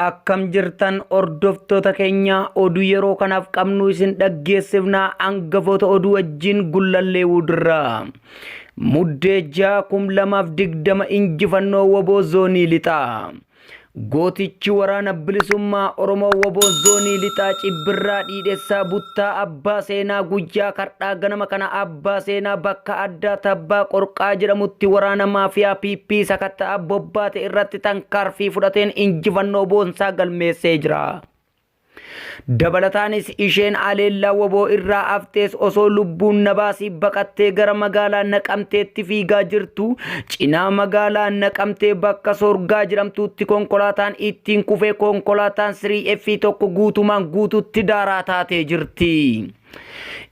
Akkam jirtan hordoftoota keenya oduu yeroo kanaaf qabnu isin dhaggeessifna hangafoota oduu wajjin gullallee wudirraa. Muddee ja'a kum lamaaf digdama injifannoo woboo zoonii lixaa. Gootichi waraana bilisummaa Oromoo woboo zoonii lixaa cibbirraa dhiidhessaa buttaa abbaa seenaa guyyaa kardhaa ganama kana Abbaa Seenaa bakka addaa Tabbaa Qorqaa jedhamutti waraana maafiyaa PP sakatta'a bobbaate irratti tankaarfii fudhateen injifannoo boonsaa galmeessee jira. Dabalataanis isheen aleellaa waboo irraa aftees osoo lubbuun nabaasii baqattee gara magaalaa naqamteetti fiigaa jirtu cinaa magaalaa naqamtee bakka sorgaa jedhamtuutti konkolaataan ittiin kufee konkolaataan 3F tokko guutumaan guututti daaraa taatee jirti.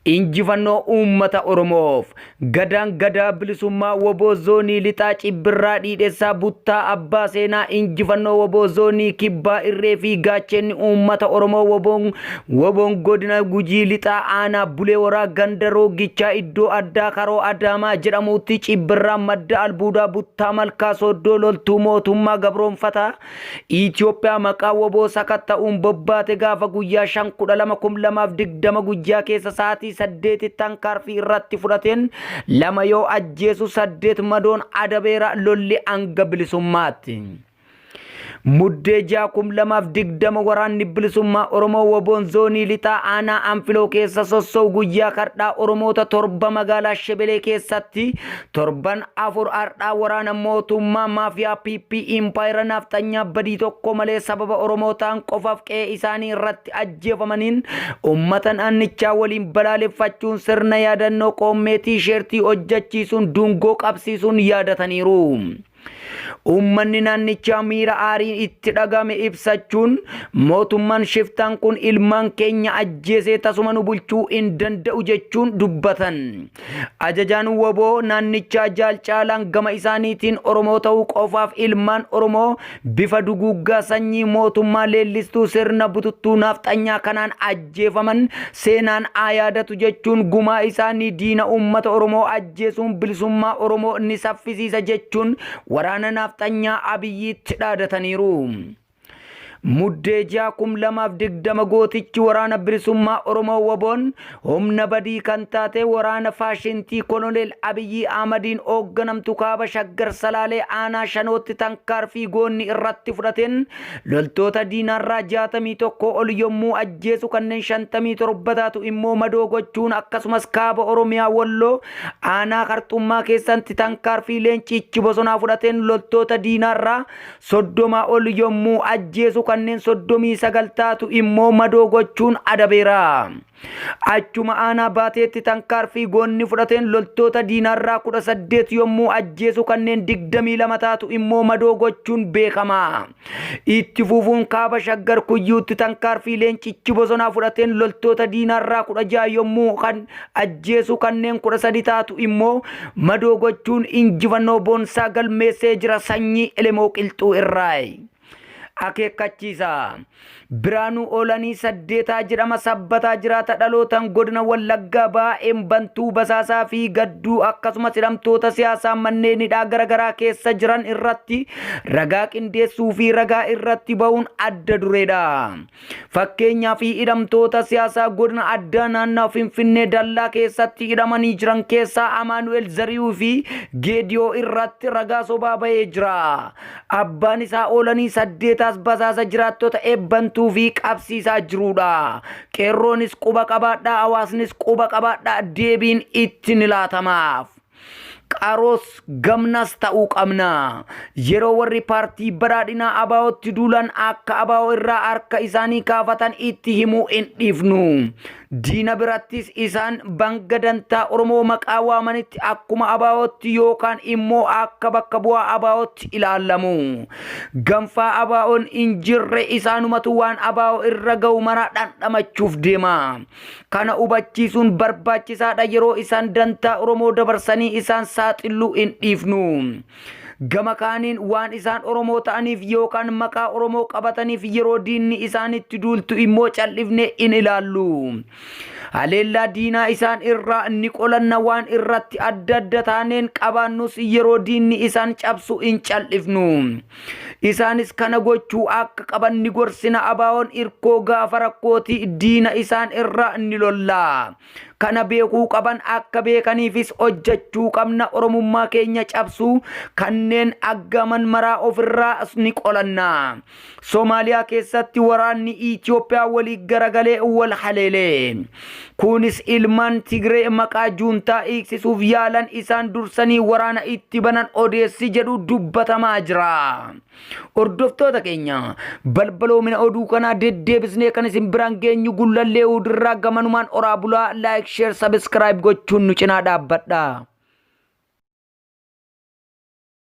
Injifannoo uummata Oromoof! Gadaan Gadaa Bilisummaa wbo Zoonii Lixaa Cibbirraa Dhiidhessaa Buttaa Abbaa Seenaa Injifannoo wbo Zoonii Kibbaa Irree fi Gaacheenni Uummata Oromoo wboon wboon Godina Gujii Lixaa Aanaa Bulee Horaa Ganda Rooggichaa Iddoo Addaa Karoo Adaamaa jedhamuutti Cibbirraa Madda Albuudaa Buttaa Malkaa Sooddoo Loltuu Mootummaa Gabroomfataa Itoophiyaa maqaa woboo sakatta'uun bobbaate gaafa guyyaa 5-12-2020 guyyaa keessa sa'aatii 8 tankaarfii irratti fudhateen lama yoo ajjeesu 8 madoon adabeera lolli hanga bilisummaatti. Muddee 6-2020 waraanni bilisummaa Oromoo woboon zoonii lixaa aanaa anfiloo keessa sossa'u guyyaa kardhaa Oromoota torba magaalaa Shebelee keessatti Torban afur har'aa waraana mootummaa maafiyaa PP impaayera naafxanyaa badii tokko malee sababa Oromoo ta'an qofaaf qe'ee isaanii irratti ajjeefamaniin uummata naannichaa waliin balaaleffachuun sirna yaadannoo qoommee tiisheertii hojjechiisuun duungoo qabsiisuun yaadataniiru. Uummanni naannichaa miira aariin itti dhagame ibsachuun mootummaan shiftaan kun ilmaan keenya ajjeesee tasuma nu bulchuu hin danda'u jechuun dubbatan. Ajajaan waboo naannichaa Jaal Caalaan gama isaaniitiin Oromoo ta'uu qofaaf ilmaan Oromoo bifa duguuggaa sanyii mootummaa leellistuu sirna bututtuu naafxanyaa kanaan ajjeefaman seenaan haa yaadatu jechuun gumaa isaanii diina uummata Oromoo ajjeesuun bilisummaa Oromoo ni saffisiisa jechuun waraana naafxanyaa Abiyyiitti dhaadataniiru. Muddee 6/2020 gootichi waraana bilisummaa Oromoo Waboon humna badii kan taate waraana faashintii Koloneel Abiyyii Ahmadiin hoogganamtu kaaba Shaggar Salaalee aanaa Shanootti tankaarfii goonni irratti fudhateen Loltoota diinaarraa 61 ol yommuu ajjeesu kanneen 57 taatu immoo madoo gochuun akkasumas kaaba Oromiyaa Walloo aanaa Karxummaa keessatti tankaarfii leenciichi bosonaa fudhateen loltoota diinaarraa 30 ol yommuu ajjeesu kanneen 39 taatu immoo madoo gochuun adabeera. Achuma aanaa Baateetti tankaarfii goonni fudhateen loltoota diinaarraa 18 yommuu ajjeesu kanneen 22 taatu immoo madoo gochuun beekama. Itti fufuun kaaba Shaggar Kuyyuutti tankaarfii leencichi bosonaa fudhateen loltoota diinaarraa 16 yommuu kan ajjeesu kanneen 13 taatu immoo madoo gochuun injifannoo boonsaa galmeessee jira sanyii Elemoo Qilxuu irraa. Akeekkachiisa. Biraanuu Oolanii Saddeetaa jedhama sabbataa jiraata dhalootan godina Wallaggaa baa'een bantuu basaasaa fi gadduu akkasumas hidhamtoota siyaasaa manneen hidhaa garaagaraa keessa jiran irratti ragaa qindeessuu fi ragaa irratti ba'uun adda dureedha. Fakkeenyaaf hidhamtoota siyaasaa godina addaa naannaa Finfinnee dallaa keessatti hidhamanii jiran keessaa Amaanu'el Zariyuu fi Geediyoo irratti ragaa sobaa bahee jira. Abbaan isaa oolanii saddeetaas basaasa jiraattota eebbantuu fi qabsiisaa jiruudha. Qeerroonis quba qabaadhaa hawaasnis quba qabaadhaa deebiin itti ni laatamaaf. Qaaroos gamnaas ta'uu qabna. Yeroo warri paartii badhaadhinaa abaa'ootti duulan akka abaa'oo irraa harka isaanii kaafatan itti himuu hin dhiifnu. Diina birattis isaan banga dantaa Oromoo maqaa waamanitti akkuma abaa'ootti yookaan immoo akka bakka bu'aa abaa'ootti ilaalamu. Ganfaa abaa'oon hin jirre isaanumatu waan abaa'oo irra ga'u maraa dhandhamachuuf deema. Kana hubachiisuun barbaachisaadha yeroo isaan dantaa Oromoo dabarsanii isaan saaxilluu hin dhiifnu. Gama kaaniin waan isaan Oromoo ta'aniif yookaan maqaa Oromoo qabataniif yeroo diinni isaanitti duultu immoo cal'ifnee hin ilaallu. Haleellaa diinaa isaan irraa ni qolanna waan irratti adda adda taaneen qabaannus yeroo diinni isaan cabsu hin cal'ifnu. Isaanis kana gochuu akka qaban ni gorsina. Abaawoon irkoo gaafa rakkooti diina isaan irra ni lolla. Kana beekuu qaban akka beekaniifis hojjechuu qabna. Oromummaa keenya cabsuu kanneen aggaaman maraa ofirraa ni qolanna. Somaaliyaa keessatti waraanni Itoophiyaa walii garagalee wal haleelee. Kunis ilmaan Tigree maqaa juuntaa hiiksisuuf yaalan isaan dursanii waraana itti banan odeessi jedhu dubbatamaa jira. Hordoftoota keenya balbaloomina oduu kanaa deddeebisnee kan isin biraan geenyu gullallee hudirraa gamanumaan oraa bulaa laayik sheer sabiskiraayib gochuun nu cinaa dhaabbadha.